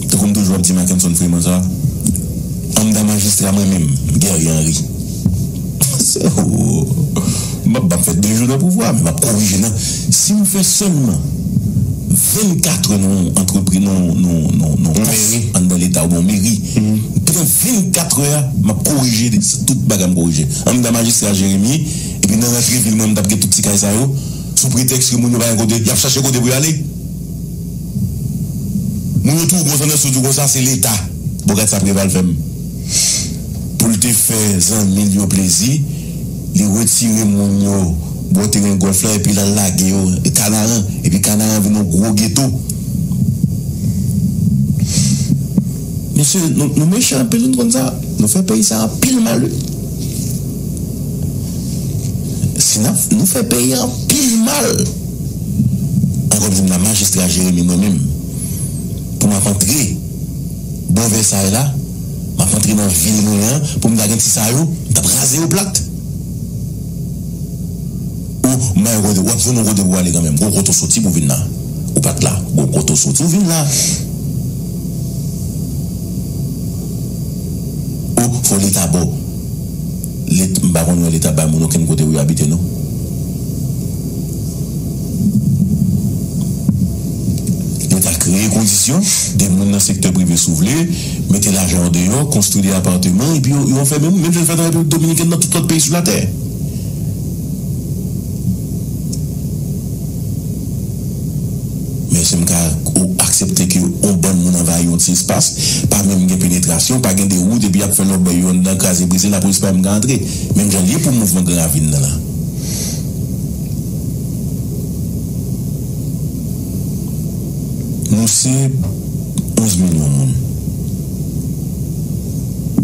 Speaker 6: Tankou m toujou ap di Mackenson Freeman sa, Anmdan majistra mwen menm, Guerrier Henry. Mwen se, oo, m pap, m pap fè 2 jou nan pouvwa, men m ap korije nan. Si nou fè sèlman 24 trè nan yon antrepriz nan yon kòf anndan leta oubyen yon meri pandan 24 trè a map korije tout bagay map korije anndan majistra jeremi epi nan rantre vil mwen mtap gen tout ti kay sa yo sou pretèks ke moun yo pa gen kote yap chache kote pou yo ale moun yo twò gwo zannès yo di konsa se leta bon gad sa preval fèm poul te fè zanmil yo plezi. Li retire moun yo bò teren gòlf la epi l al lage yo Kanaran, epi Kanaran an vin yon gwo geto. Mesye, nou, nou mechan anpil, nou konn sa? Nou fè peyi sa a anpil mal wi. Si n ap, nou fè peyi a anpil mal. An kòm se m la Majistra Jeremi mwen menm, pou m ap antre bò Vèsay la, M ap antre nan vil mwen an pou m ta gen ti sa yo, m t ap raze yo plat. Ou may kote, w ap jwenn yon kote pou w ale kanmenm. Gwo kote ou soti pou w vin la. Ou pa t la. Gwo kote ou soti ou vin la. Ou foli ta bo. Let m pa konn wè leta bay moun okenn kote pou yo abite non leta kreye kondisyon 2 moun nan sektè prive sou vle mete lajan yo deyò konstwi 2 aparteman epi yo yo anfèmen moun menm jan yo fè nan repiblik dominikèn nan tout lòt peyi sou latè. Men èske m ka aksepte ke yon bann moun anvayi yon ti espas, pa menm gen penetrasyon, pa gen de wout epi y ap fè lòbèy yo anndan kraze brize, lapolis pa menm ka antre? Menm jan l ye pou mouvman Gran Ravin nan la. Nou se 11 milyon moun.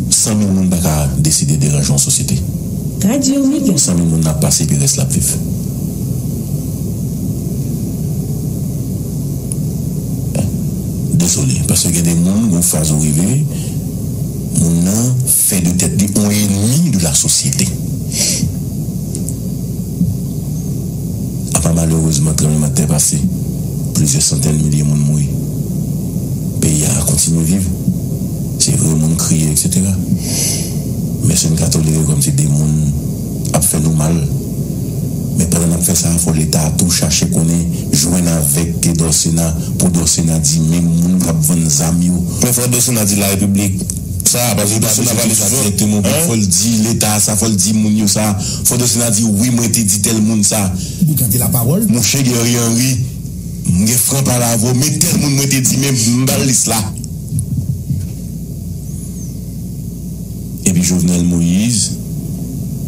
Speaker 6: 100 mil moun pa ka deside deranje yon sosyete. 100 mil moun ap pase epi rès la ap viv. Desole paske gen de moun gon faz ou rive moun nan fè de tèt li on enemi de la sosyete. Apa malerezman tranbleman tè pase plizyè santèn milye moun mouri peyi a kontinye viv se vre moun kriye etc. Men sen ka tolere kòmsi de moun ap fè nou mal. Men pandan n ap fè sa a fò leta a tou chache konnen, jwenn avèk Guy Dorcena pou Dorcena di menm moun k ap vann zam yo. Men fò Dorcena di larepiblik sa, paske li pa bezwen di sa dirèkteman pou fò l di leta a sa, fò l di moun yo sa, fò Dorcena di wi mwen te di tèl moun sa. Boukante lapawòl.
Speaker 7: Mouche Guerrier Henry,
Speaker 6: m gen fran pale avè w men tèl moun mwen te di men m ba l lis la. Epi Jovenel Moise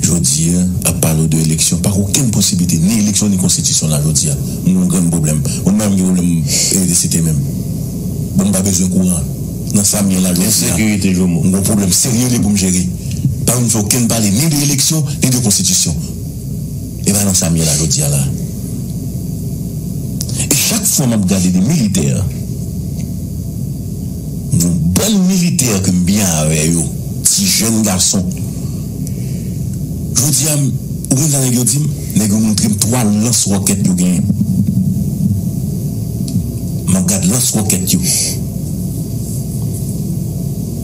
Speaker 6: jodi a ap pale w de eleksyon. Pa gen okenn posiblite ni eleksyon ni konstitisyon la jodi a. M gen yon grenn pwoblèm. Mwen menm m gen pwoblèm elektrisite menm. Bon m pa bezwen kouran. Nan sa m ye la jodi a. Ensekirite jomo. M gen yon pwoblèm serye li pou m jere. Pa vin fè okenn pale ni de eleksyon ni de konstitisyon. E pa nan sa m ye la jodi a la. E chak fwa m ap gade de militè. Yon bann militè ke m byen avè yo, ti jèn gason. Jodi a, ou konn sa nèg yo di m? Nèg yo montre m 3 lans wòkèt yo genyen. M ap gad lans wòkèt yo.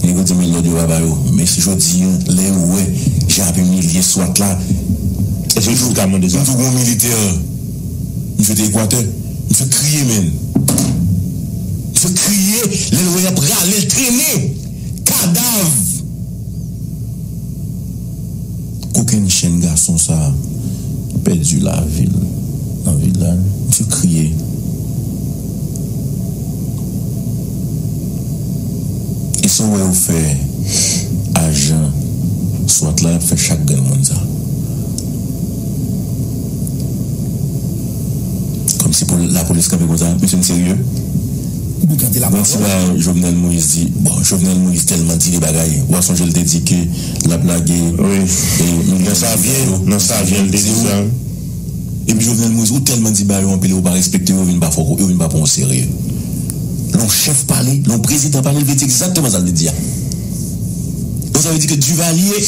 Speaker 6: Nèg yo di m men lòd yo pa ba yo. Men si jodi a, lè yo wè jan y ap imilye swat la, m toujou gen yon militè, misye te Ekwatè. M fek kriye menn. M fek kriye lel wè yap ralel trennen kadav kokenn chen gason sa ki pèdi lavil nan vilaj m fek kriye esaw wè yo fè ajan swat la yap fè chak grenn moun sa. Kòmsi pou lapolis kanpe konsa mesye n serye Bon ti bagay Jovenel Moïse di bon Jovenel Moïse tèlman di de bagay wa sonje l te di ke lap lage milyon nan savyen l te di sa wi Epi Jovenel Moïse ou tèlman di bagay yo anpil e ou pa respekte yo yo vin pa fò yo vin pa pran w oserye Lè yon chèf pale lè yon prezidan pale l vle di egzakteman sa l vle di a Donk sa vle di ke Duvalier.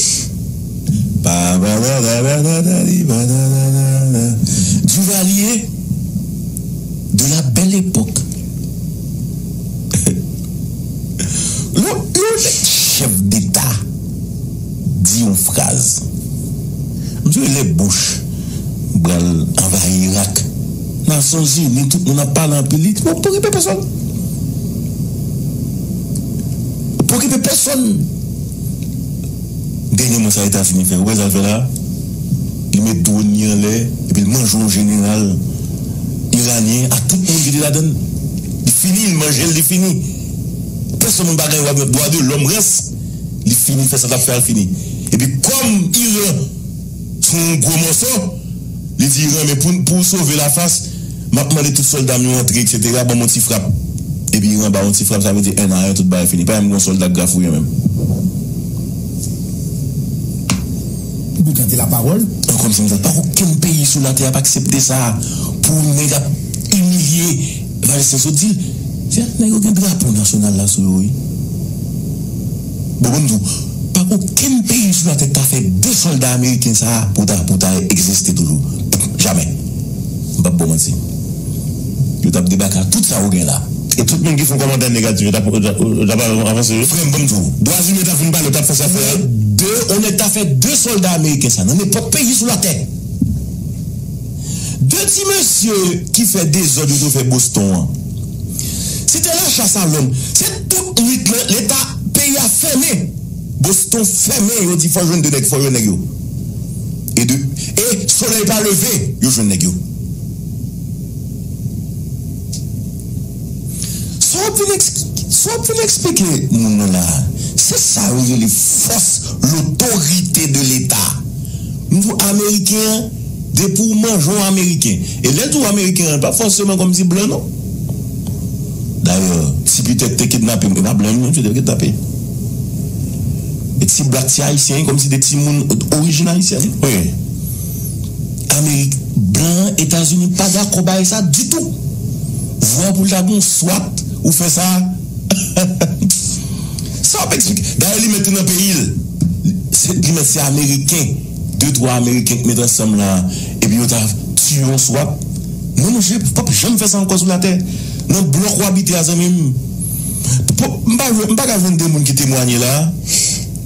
Speaker 6: Duvalier de la belle époque Lè yon chèf deta di yon fraz M di w lè Bush pral anvayi Irak Nasyon Zini tout moun ap pale anpil li di pokipe pèsòn Pokipe pèsòn Dènyèman sa Etazini fè, ou wè sa l fè la a? Li met dwòn li anlè epi l manje yon jeneral iranyen ak tout moun ki te ladan l. Li fini, li manje l, li fini. Pèsonn moun pa gen dwa de lòm rès. Li fini, fè sa l t ap fè a, l fini. Epi kòm Iran. Fè yon gwo mòso. Li di Iran, men pou, pou w sove lafas, m ap mande tout sòlda m yo antre eksetera, ban m yon ti frap. Epi Iran ba w yon ti frap, sa vle di 1 a 1, tout bagay fini. Pa janm gen yon sòlda k grafouyen menm.
Speaker 7: Pou Boukan te lapawòl. An kòm se konsa, pa gen
Speaker 6: okenn peyi sou latè a k ap aksepte sa a, pou yon nèg ap imilye Palestin. Sot di l, Nèg yo gen drapo nasyonal la sou yo wi. Bon banm di w, pa okenn peyi sou latè k ta fè 2 sòlda ameriken sa a pou ta pou ta egziste toujou. Jamè. M pap ba w manti. Yo tap debake ak tout sa yo gen la. E tout moun ki fon kòmantè negatif yo tap yo tap avanse wi. Frè m banm di w, dwazimen tap fin pale yo tap fè sa fè a. Nan 2 on nèg ta fè 2 sòlda ameriken sa nan nenpòt peyi sou latè. 2 ti mesye ki fè dezòd yo te fè Boston an. Se te lacha sa lòm. Se tout nwit lan leta peyi a fèmen. Boston fèmen yo di fò jwenn 2 nèg fò jwenn nèg yo. E 2 e solèy pa leve yo jwenn nèg yo. Sa wap vin sa wap vin eksplike moun nan la a? Se sa yo rele fòs lotorite de leta. M di w ameriken an. Depi w manje w ameriken. E lè di w ameriken an, l pa fòseman kòmsi blan non. Dayè, si Peter te kidnape m, e pa blan li non msye te kidnape. E si blak se ayisyen, e kòmsi se timoun orijin ayisyèn. Wi. Amerik, blan an, Etazini pa dakò bay sa ditou. Vwa pou l ta gen yon swat ou fè sa. Sa w ap esplike. Dayè li mèt li nan peyi l. Li mèt se ameriken. De twa ameriken t met ansanm la epi yo ta tiye yon swat non mesye pap janm fè sa ankò sou latè nan blòk ou abite a zanmim m pa ka jwenn 2 moun ki temwanye la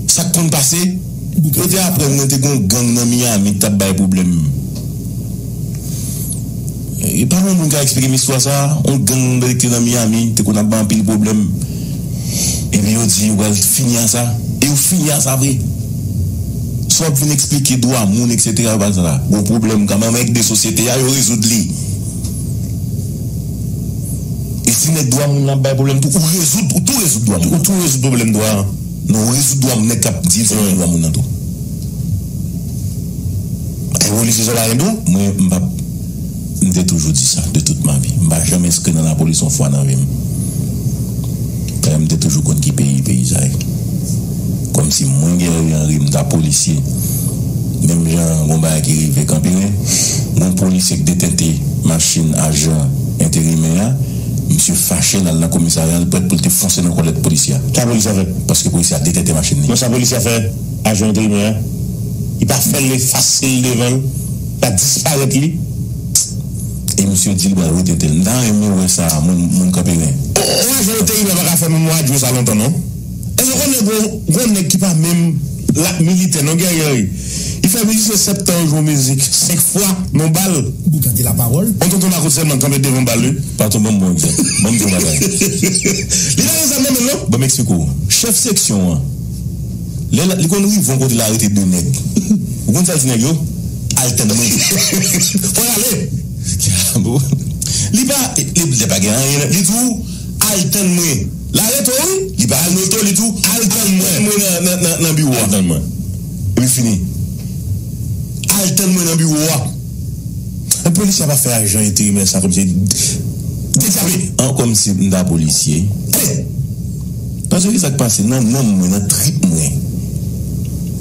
Speaker 6: sak konn pase yo te aprann mwen te gon gang nan Miami ki tap bay pwoblèm e pa gon moun ka eksplikem istwa sa yon gang nan Miami te konn ap bay anpil pwoblèm. Epi yo di yo pral fini a sa, e yo fini a sa vre. Sou ap vin eksplike dwa moun eksetera yo pral sa sa. Gon pwoblèm kanmèm avèk de sosyete a, yo rezoud li. E si nèg dwa moun lan ap bay pwoblèm tou, ou rezoud, ou tou rezoud dwa moun lan. Ou tou rezoud pwoblèm dwa an. Non, ou rezoud dwa nèg k ap di l se li dwa moun lan tou.
Speaker 8: Evolise sa pa gen do, mwen m p ap.
Speaker 6: M te toujou di sa, de tout ma vi. M pa janm enskri nan lapolis yon fwa nan vi m. Dayè m te toujou konn ki peyi peyizay. Kòmsi mwen Guerrier Henry m ta polisye. Menm jan gon bagay ki rive Kanperen, gon polisye k detente machin ajan enterimè a, misye fache l al nan komisarya l prèt pou l te fonse nan kòlèt polisye a. Sa polisye a fè?
Speaker 8: Paske polisye a detente
Speaker 6: machin li. Non sa polisye a fè
Speaker 8: ajan enterimè a? Li pa fè l efase l devan l? Pa disparèt li
Speaker 6: e misye di li pral wete tel. M ta renmen wè sa moun kanperen. Bon yon afè oteyib
Speaker 8: la paka fè menm radyo sa lontan non èske ou konnen gon nèg ki pa menm lap militè non gèryè wi li fè mizisyen 7 tan yo jwe yon mizik 5 fwa non bal yon
Speaker 7: tonton makout sèlman kanpe
Speaker 8: devan bal wi. Patron banm bon egzanp.
Speaker 6: Banm yon bagay. Li
Speaker 8: pa gen zam nan menl non. Banm eksplike w. Chèf
Speaker 6: seksyon an. Lè li konn rive yon kote li arete 2 nèg. Ou konn sa l di nèg yo? Al tann mwen. Fò
Speaker 8: y ale!
Speaker 6: Li pa Lè pa gen anyen nan Li di w, Al tann mwen. L arete w wi! Li pa al mete w, li di w, Al tann mwen nan biwo a. Al tann mwen. Epi fini. Al tann mwen nan biwo a.
Speaker 8: Men polisye a pa fè ajan enterimè sa kòmsi Dedyape! An
Speaker 6: kòmsi m ta polisye. Ale! Pase ki sak pase nan nanm mwen nan trip mwen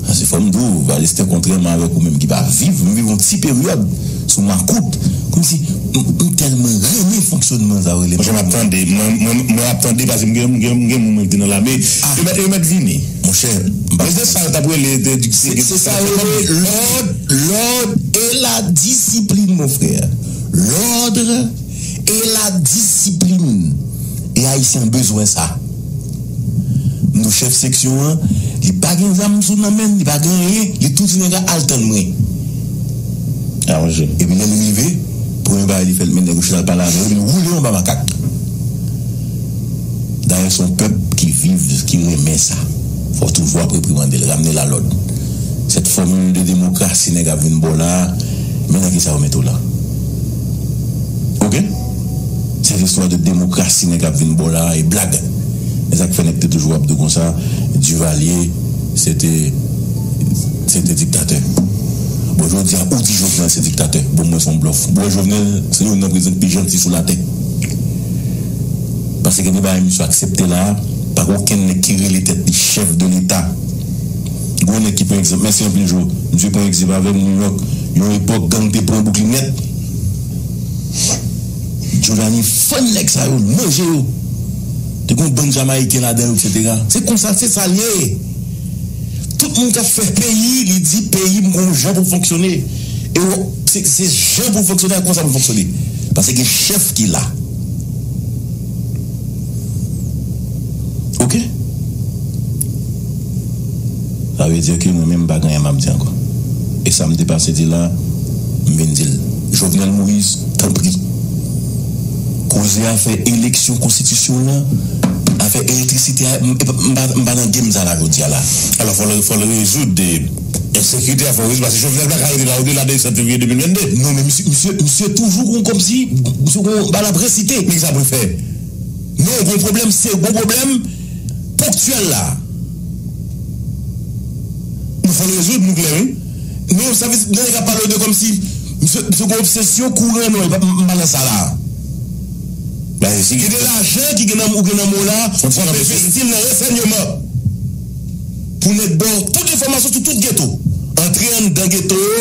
Speaker 6: pase fòm di w Alistè kontrèman avèk ou menm ki pa viv m viv yon ti peryòd sou makout kòmsi m tèlman renmen fonksyònman sa yo rele Monchè map tande
Speaker 8: mwen ap tande pase m gen m gen moun mwen ki te nan lame yo mèt vini monchè m pa
Speaker 6: se sa yo tap
Speaker 8: rele se
Speaker 6: sa yo rele lòd lòd e la disiplin mon frè lòdre. e la disiplin e ayisyen an bezwen sa nou chèf seksyon an li pa gen zam sou nan menn li pa gen anyen li tou di nèga al tann mwen
Speaker 8: epi lèl rive
Speaker 6: premye bagay li fè li met nèg yo chita al pale avè yo li woule yo anba makak dayè son pèp ki viv ki renmen sa fò toujou ap reprimandel ramnel a lòd sèt fòmil de demokrasi nèg ap vin baw la men nan kisa yo met ou la. ok se listwa de demokrasi nèg ap vin baw la e blag esak fè nèg te toujou ap diw konsa Duvalier se te se te diktatè bon jodia ou di Jovenel se diktatè bon mwen son blòf mwen Jovenel se youn nan prezidan ki pi janti sou latè paske gen de bagay misye aksepte la pa gen okenn nèg ki rele tèt li chèf de leta gon nèg ki pran egzanp mèsi anpil Jo misye pran egzanp avèm New York. Yon epòk gang te pran bouklin nèt Jordany fann nèg sa yo manje yo te gon bann jamayiken ladan yo etc. Se konsa se sal ye tout moun kap fè peyi li di peyim gon jan poul fonksyone e ou se jan poul fonksyone ak konsa poul fonksyone paske gen chèf ki la. Ok Sa vle di ke mwen menm m pa gen anyen m ap di ankò e sa m te pase di la m vin di l. Jovenel Moïse tanpri koze afè eleksyon konstitisyon la afè elektrisite a m pa nan game sa la jodi a la alò fò l
Speaker 8: rezoud ensekirite a fò l rezoud paske Jovenel pa ka rete la odela de 7 fevriye 2022 non men misye
Speaker 6: toujou kòmsi misye gen yon bagay l ap resite nèg sa pou l fè.
Speaker 8: Non gwo
Speaker 6: pwoblèm se gwo pwoblèm ponktyèl la
Speaker 8: Nou fèl rezoud nou klè wi Non sa vle di
Speaker 6: lè nèg ap pale de kòmsi misye misye gwo obsesyon kouran non m pa nan sa la
Speaker 8: Gen de lajan ki gen nan ou gen nan men w la w ap envesti l nan ransènyeman
Speaker 6: pou nèg ba w tout enfòmasyon sou tout geto antre anndan geto yo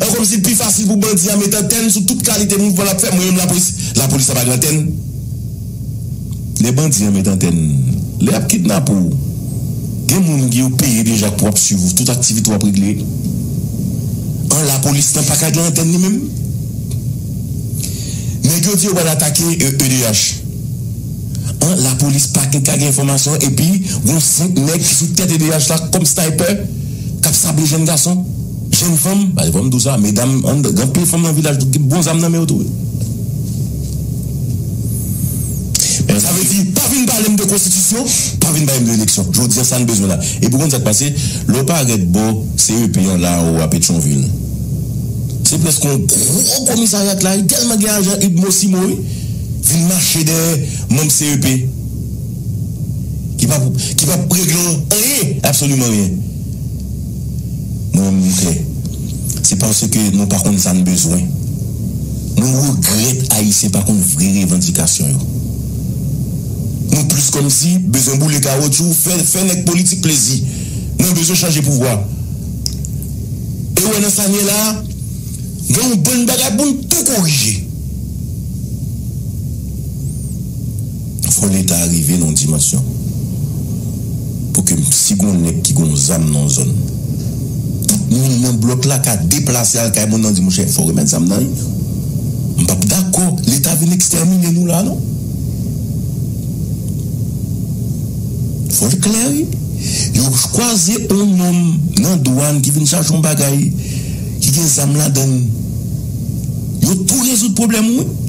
Speaker 6: An kòm si l pi fasil pou bandi a met antèn sou tout kalite mouvman l ap fè, mwen menm lapolis, lapolis ap ak antèn? Lè bandi an met antèn, lè y ap kidnape w, gen moun ki yo peye deja pou ap swiv ou tout aktivite w ap regle. An lapolis nan pa ka gen antèn li menm? Nèg yo di yo pral atake edh. An lapolis pa gen ka gen enfòmasyon epi gon 5 nèg ki sou tèt edh la kòm snaypè? k ap sable jèn gason, jèn fanm, pa gen fò m di w sa, medam, gen anpil fanm nan vilaj ki gen bon zam nan men yo tou wi.
Speaker 8: Men sa vle di, pa vin pale m de konstitisyon, pa vin pale m de eleksyon. Jodi a sa n bezwen la. Epi w konn sa k pase, lè w parèt bò CEP an la anwo a Petyonvil, se prèske yon gwo komisaryat la wi, tèlman gen ajan udmo simo wi, vin mache dèyè manm CEP. Ki pa pou, ki pap regle w anyen, absoliman anyen. Mwen menm li klè, se paske nou pa konn sa n bezwen. Mwen regrèt Ayisyen pa konn vre revandikasyon yo. Nou plis kòmsi bezwen boule kawotchou, fè, fè nèg politik plezi. Mwen bezwen chanje pouvwa. E ou wè nan sa n ye la a, gen yon bann bagay pou n tou korije. Fò leta rive nan yon dimansyon pou ke si gon nèg ki gon zam nan yon zòn, tout moun nan blòk la ka deplase al kay moun nan di monchè fò remèt zam nan wi. M pap dakò leta vin ekstèmine nou la non. Fò l klè wi. Yo kwaze yon nonm nan dwàn ki vin chache yon bagay ki gen zam ladan l. Yo tou rezoud pwoblèm ou wi.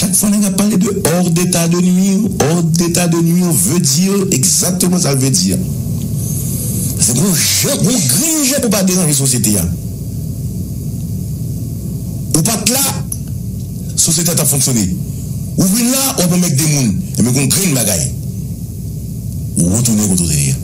Speaker 8: Chak fwa nèg ap pale de hors d'état de nuire, hors d'état de nuire veut dire exactement sa l veut dire. Se pou w jan, pou w grenn jan pou w pa deranje sosyete a. Ou pa t la, sosyete a t ap fonksyone. Ou vin la, w ap anmègde moun. Enben gen yon grenn bagay, ou retounen kote w te ye a.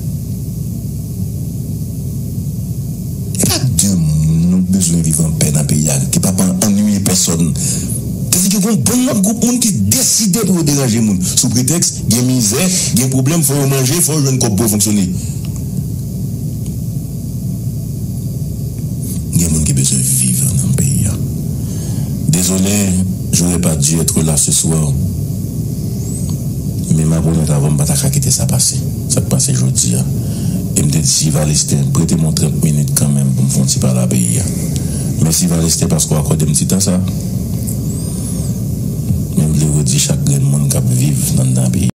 Speaker 8: E pa de moun nou bezwen viv an pè nan peyi Ayiti pa pa annuiye pèsòn. Sa vle di gen yon bon lòt gwoup moun ki deside pou yo deranje moun sou pretèks gen mizè, gen pwoblèm, fò yo manje, fò yo jwenn kòb pou yo fonksyone. Gen moun ki bezwen viv nan peyi a. Dezole, j'aurais pas dû être là ce soir, men map onèt avè'w m pa ta ka kite sa pase. Sa k pase jodi a? E m te di si Valestè prete m yon 30 minit kanmenm pou m fè yon ti pale a peyi a. Mèsi Valestè paske w akòde m ti tan sa. Men m vle redi chak grenn moun k ap viv anndan peyi a.